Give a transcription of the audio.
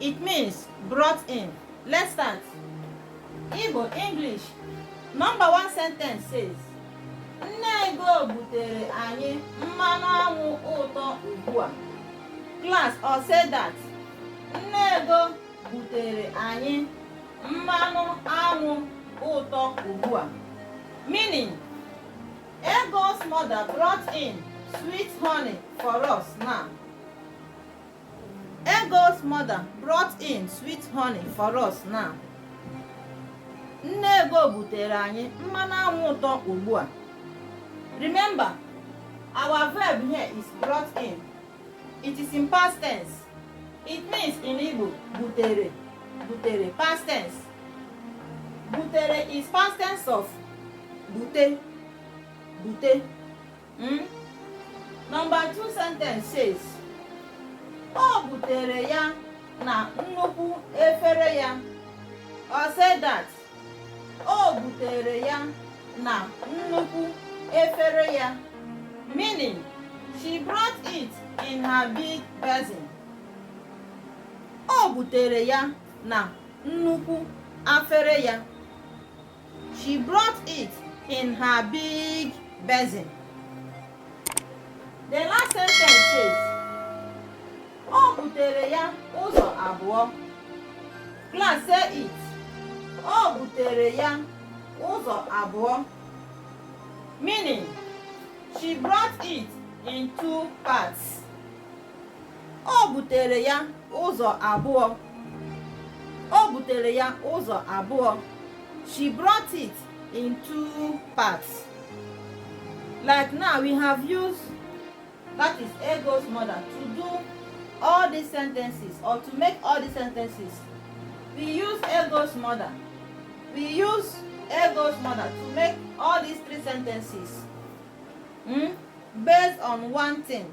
It means brought in. Let's start. Igbo English. Number one sentence says, Nne Ego butere anyị mmanụ anwụ ụtọ ugbu a. Class all say that. Nne Ego butere anyị mmanụ anwụ ụtọ ugbu a. Meaning, Ego's mother brought in sweet honey for us now. Ego's mother brought in sweet honey for us now. Nne Ego butere anyị mmanụ anwụ ụtọ ugbu a. Remember, our verb here is brought in. It is in past tense. It means in Igbo, butere, butere, past tense. Butere is past tense of bute, bute. Hmm? Number two sentence says o butere ya na nnukwu efere ya all say that o butere ya na nnukwu efere ya meaning she brought it in her big basin o butere ya na nnukwu afere ya She brought it in her big basin. The last sentence says, O butere ya ụzọ abụọ. Class say it. O butere ya ụzọ abụọ. Meaning, she brought it in two parts. O butere ya ụzọ abụọ. O butere ya ụzọ abụọ. She brought it in two parts. Like now we have used that is Ego's mother to do all these sentences or to make all these sentences. We use Ego's mother. We use Ego's mother to make all these three sentences. Hmm? based on one thing